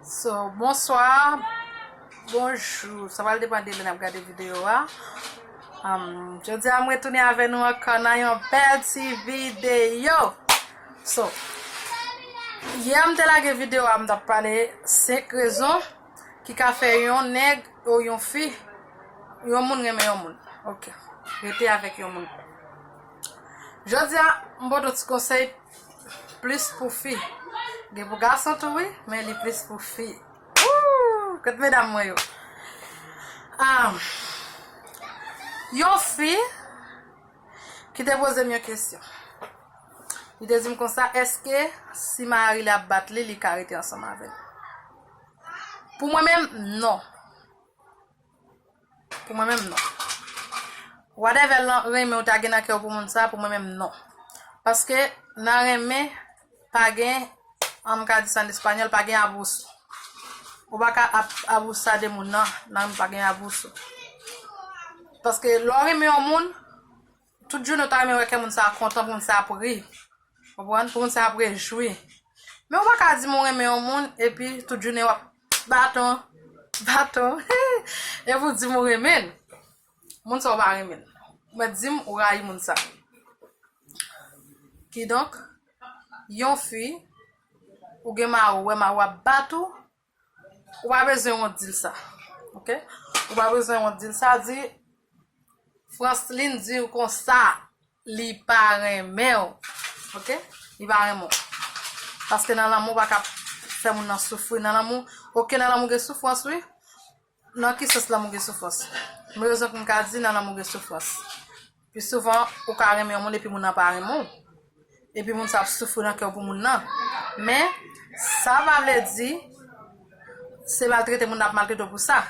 So bonswa bonjou sa pral depan de lè nap gade video a Jodi a mwen tounen avè nou ankò nan yon bèl ti video So yè m te lage video a m tap pale 5 rezon ki ka fè yon nèg ou yon fi yon moun renmen yon moun ok rete avèk yon moun Jodi a m pote yon ti konsèy Plis pou fi. Gen pou gason tou wi, men li plis pou fi. Ooh! Kot medam mwen yo? Ahm. Yon fi ki te poze m yon kesyon. Li te di m konsa, eske si mari li ap bat li, li ka rete ansanm avè l? Pou mwen menm, non. Pou mwen menm non. Whatever lan renmen ou ta gen nan kè ou pou moun sa pou mwen menm non. Paske nan renmen pa gen an m ka di sa an español pa gen abuso. Ou pa ka ap abusa de moun nan nan renmen pa gen abuso. Paske lè w renmen yon moun Tout jounen ou ta renmen wè kè moun sa a kontan pou moun sa a ap ri. Konprann? Pou moun sa a ap rejwi. Men ou pa ka di m ou renmen yon moun epi tout jounen w ap baton, baton. Epi ou di m ou renmen l. Moun sa ou pa renmen l. Ou mèt di m ou rayi moun sa a. Kidonk, yon fi, ou gen mari w, ou wè mari w ap bat ou, Ou pa bezwen wont dil sa ok ou pa bezwen wont dil sa di Franceline diw konsa li pa renmenw ok li pa renmen w paske nan lanmou ou pa ka fè moun nan soufri nan lanmou ok nan lanmou gen soufrans wi Nan ki sans lanmou gen soufrans? Yon rezon pou m ka di nan lanmou gen soufrans. Pi souvan, ou ka renmen yon moun epi moun nan pa renmen w. Epi moun sa ap soufri nan kè w pou moun nan. Men, sa pa vle di, se maltrete moun nan ap maltrete w pou sa.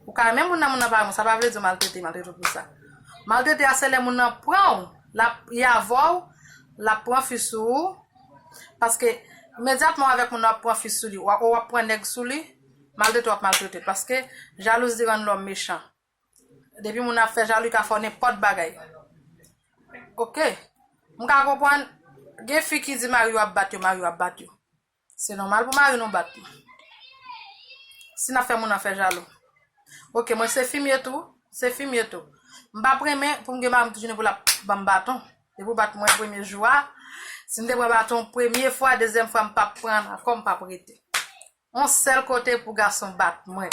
Ou ka renmen moun nan, moun nan pa renmen w, sa pa vle di w maltrete, maltrete w pou sa. Maltrete a se lè moun nan pran w, l ap, li avè w, l ap pran fi sou ou, paske imedyatman w avèk moun nan w ap pran fi sou li, ou ap pran nèg sou li, Maltrete wap maltrete paske jalouzi rann lòm mechan depi moun ap fè jalou li ka fè w nenpòt bagay ok m ka konprann gen fi ki di mari yo ap bat yo mari yo ap bat yo se nòmal pou mari nou bat nou si nap fè moun nan fè jalou ok mwen se fimye tou se fimye tou m pap renmen pou m gen mari m tou jounen pou lap banm baton depi ou bat mwen premye jou a si m te pran baton premye fwa dezyèm fwa m pap pran ankò m pap rete. On sel kote pou gason bat mwen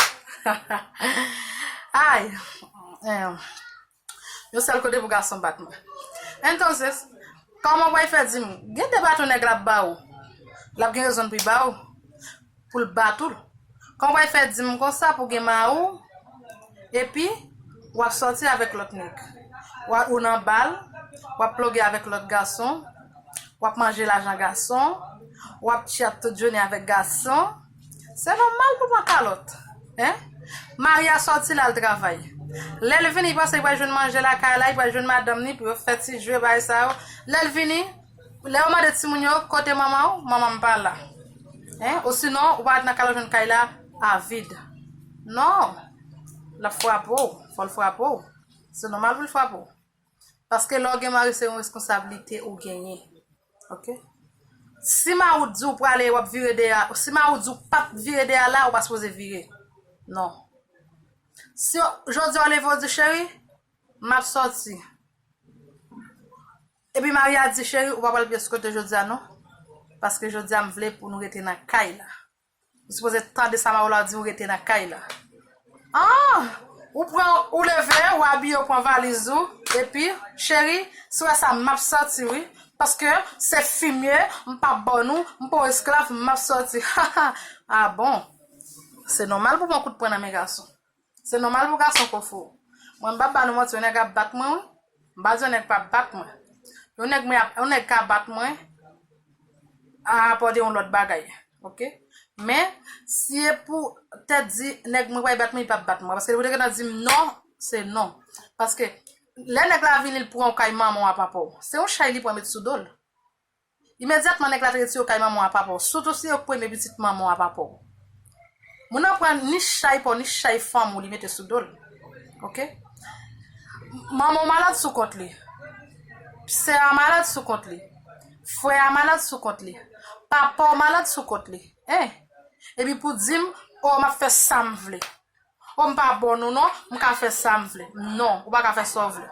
Ayy Yon sel kote pou gason bat mwen Entonces Koman wap fè dim gen de baton nèg la ap ba ou Lap gen rezon pou li ba ou Pou l bat ou Koman wap fè dim konsa pou gen ma ou Epi Wap sòti avèk lòt nèg Ou nan bal Wap ploge avèk lòt gason. wap manje lajan gason, wap chat tout jounen avèk gason, se nòmal pou pran kalòt hein, mari a sòti lal travay, lèl vini li panse li pral jwenn manje lakay la, li pral jwenn madanm li pou yo fè ti jwe bagay sa yo, lèl vini, lè yo mande timoun yo kote manmanw, manmanm pa la hein, osinon ou pral nan kay la wap jwenn kay la avid, non lap frape'w, fòl frape'w, se nòmal poul frape'w. Paske lè w gen mari se yon reskonsablite ou genyen. Ok. Si mari w di w prale wap vire dèyè a, si mari w di w pap vire dèyè a la, ou pa sipoze vire. Non. Si jodi a w leve w di cheri, map sòti. Epi mari a di cheri ou pa pral pyeskote jodi a non. Paske jodi a m vle pou nou rete nan kay la. Ou sipoze tande sa maola diw rete nan kay la aah ou pran ou leve ou abiye ou pran valiz ou epi cheri si wè sa map sòti wi paske se fimye mpa bò nou mpa yon esklav map sòti haha ah bon se nòmal pou pran kout pwen nan men gason. Se nòmal pou gason fò fò. Mwen m pap ba nou manti yon nèg ap bat mwen wi. M pa di yon nèg pap bat mwen. Yon nèg mwen ap, yon nèg ka bat mwen a rapò de yon lòt bagay. Ok. Men, si e pou tèt di nèg mwen pral bat mwen, li pap bat mwen. Paske li pou te gentan di m non, se non. Paske, lè nèg la vini li pran w kay manman w a papa w. Se yon chay li pran met sou do l. Imedyatman nèg la te retire w kay manman w a papa w, sitou si yo k premye pitit manman w a papa w. Moun nan pran ni chay pa w ni chay fanm ou li mete sou do l. Ok. Manman w malad sou kont li. Sè a malad sou kont li. Frè a malad sou kont li. Papa w malad sou kont li. Hein! Epi pou di m, oh m ap fè sa m vle. Oh m pa bon ou non, m ka fè sa m vle. Non, ou pa ka fè sa w vle.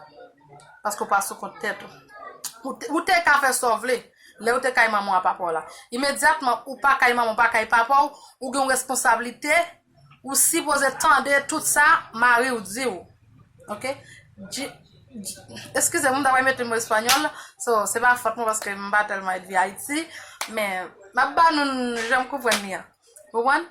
Paske ou pa sou kont tèt ou. Ou te ka fè sa w vle, lè ou te kay manman w a papa w la. Imedyatman ou pa kay manman w, ou pa kay papa w, ou gen yon responsablite, ou sipoze tande tout sa mari w di w. Ok? Di, di, eskize m, m ta pral mete mo espanyòl, so, se pa fòt mwen paske m pa tèlman edvi Ayiti, men, m ap ba nou jan m konprann li an. Ou konprann?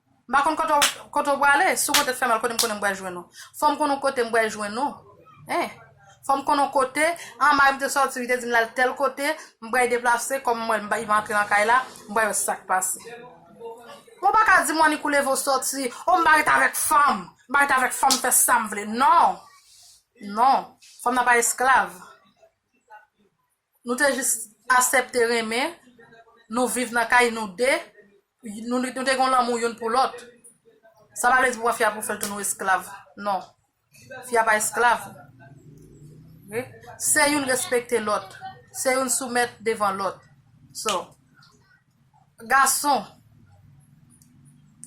M pa konn kote w prale, si w konte fè mal kote m konnen m pral jwenn ou. Fò m konn on kote m pral jwenn ou. Hein. Fò m konn on kote, an mari m te sòti li te di m l al tèl kote, m pral deplase kòm m wè l m pa rive antre nan kay la, m pral wè sa k pase. Men w pa ka di m w annik ou leve w sòti, oh m pa ret avèk fanm, m pa ret avèk fanm m fè sa m vle. Non. Non. Fanm nan pa esklav. Nou te jis asepte renmen, nou viv nan kay nou de, nou te gen yon lanmou youn pou lòt. Sa pa vle di pou wè fi a pou fè l tounen yon esklav. Non. Fi a pa esklav. Se youn respekte lòt. Se youn soumèt devan lòt. So, gason,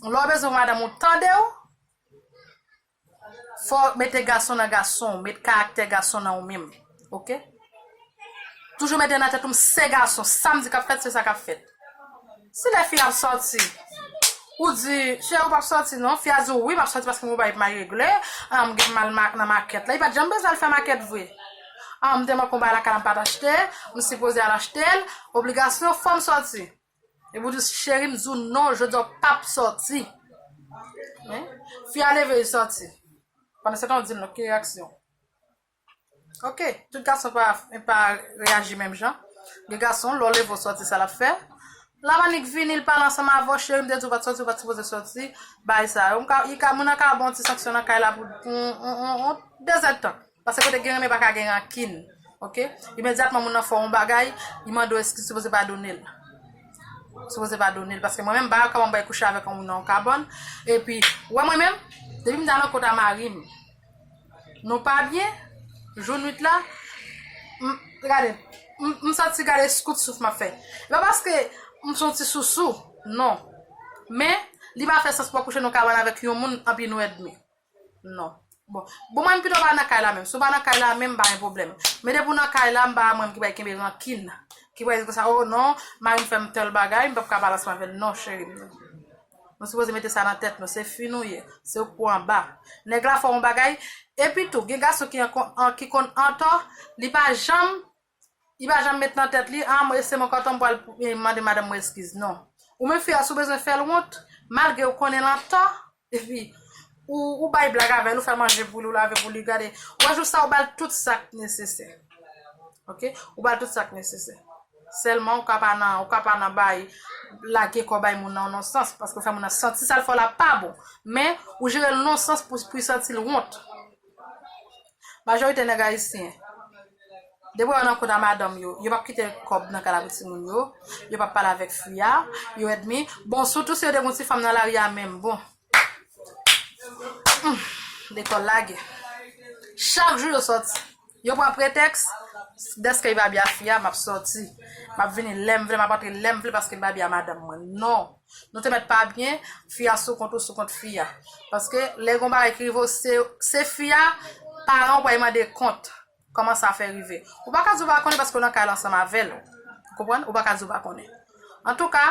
lè w bezwen yon madanm ou tande w, Fòw mete gason nan gasonw met karaktè gason nan ou minm ok toujou mete nan tèt ou m se gason sam di kap fèt se sa kap fèt si lè fi ap sòti ou di cheri ou pap sòti non fi a diw wi map sòti paske m gen yon bagay pou m al regle an m gen mal nan makèt la li pat janm bezwen al fè makèt vre an m te manke yon bagay lakay la m pat achte m sipoze al achte l obligasyon fòm sòti. Epi w di cheri m di w non jodi a w pap sòti. Fi a leve li sòti. Pandansetan w di l non ki reyaksyon. Ok, tout gason pa reyaji menm jan. Gen gason lè w leve w sòti sa l ap fè. Lè ap annik vini l pale ansanm avè w cheri m te di w pa t sòti ou pa t sipoze sòti. Bagay sa yo. Moun nan ka ba w yon ti sanksyon nan kay la pou yon dezèdtan. Pase kote gen renmen paka gen rankin ok imedyatman moun nan fè yon bagay li mande w eskiz ou sipoze pa done l sipoze pa done l paske mwen menm m pa dakò pou m al kouche avèk yon moun nan yon kabann epi ou wè mwen menm depi m ta nan kota mari m nou pa byen jou nwit la m gade m santi gade kout souf m ap fè se pa paske m son ti sousou non men li pa fè sans pou w al kouche nan yon kabann avèk yon moun epi nou èdmi. Non. Bon. Bon mwen pito pa nan kay la menm. Si w pa nan kay la menm m pa gen pwoblèm. Men depi w nan kay la m pa mwen ki pral kenbe rankin. Ki pral di konsa oh non mari m fè m tèl bagay m pap ka pale ansanm avè l. Non cheri m nan. Nou sipoze mete sa nan tèt nou. Se fi nou ye. Se ou k pou anba. Nèg la fè yon bagay. Epi tou gen gason ki konn antò li pa janm Li pa janm met nan tèt li, ah mwen se mwen kontan m pral mande madanm mwen eskiz. Non. Ou menm fi a, si w bezwen fè l wont, malgre ou konnen l antò, epi, ou bay blag avè l, ou fè manje pou li, ou lave pou li, gade, ou wè jou sa ou ba l tout sa k nesesè. Ok? Ou ba l tout sa k nesesè. Sèlman ou ka pa nan, ou ka pa nan bay, lage kò bay moun nan yon nonsans, paske ou fè moun nan santi sa l fè w la pa bon. Men, ou jere l nonsans pou l santi l wont. Majorite nèg ayisyen, depi yo nan kont a madanm yo, yo pap kite kòb nan kay la pou timoun yo, yo pap pale avèk fi a, yo èdmi, bon sitou si yo te gen yon ti fanm nan lari a menm, bon, humm, lekòl lage. Chak jou yo sòti, yo pran pretèks, dèske li pa bya fi a, m ap sòti, m ap vini lè m vle, m ap antre lè m vle paske li pa bya madanm mwen, non! Nou te mèt pa byen, fi a sou kont ou sou kont fi a. Paske lè gon bagay ki rive w se se fi a paran w pou al mande kont. Kòman sa fè rive. Ou pa ka di w pa konnen paske w nan kay la ansanm avè l. Ou konprann? Ou pa ka di w pa konnen. Antouka,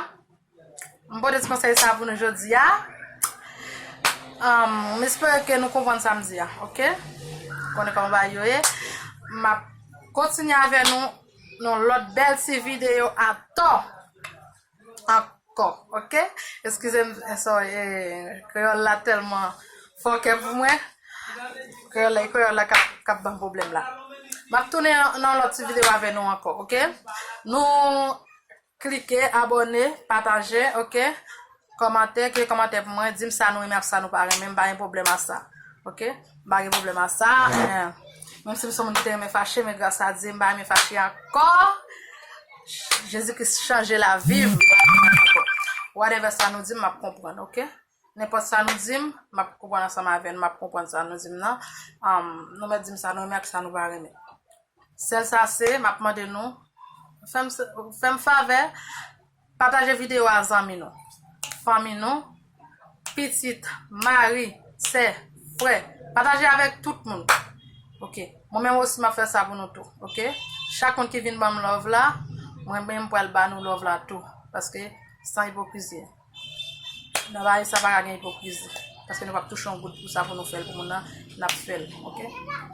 m pote ti konsèy sa pou nou jodi a. M espere ke nou konprann sa m di a. Ok? Ou konnen kòman bagay yo ye. M ap kontinye avè nou nan lòt bèl ti videyo atò. ankò ok eskize m sorry kreyòl la tèlman fòkè pou mwen kreyòl la kreyòl la kap banm pwoblèm la map tounen nan lòt ti videyo avè nou ankò ok nou klike abòne pataje ok kòmante ekri kòmante pou mwen di m sa nou renmen ak sa nou pa renmen m pa gen pwoblèm ak sa ok M pa gen pwoblèm a sa. Menm si m son moun ki te renmen fache men gras a Dye m pa renmen fache ankò. Jezi Kris chanje lavi m. Whatever sa nou di m map konprann ok. Nenpòt sa nou di m map konprann ansanm avè nou map konprann sa nou di m nan. Nou mèt di m sa nou renmen ak sa nou pa renmen. Sèl sa se map mande nou fè m favè. Pataje videyo a zanmi nou, fanmi nou, pitit, mari, sè, frè, pataje avèk tout moun ok, mwen menm osi map fè sa pou nou tou ok, chak moun ki vin banm love la mwen menm pral ba nou love la tou paske san ipokrizi nan lavi sa paka gen ipokrizi paske nou pap touche yon goud pou sa pou nou fèl pou moun nan nap fèl ok,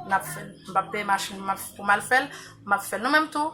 nap fèl m pap peye machin pou mal fèl map fèl nou menm tou.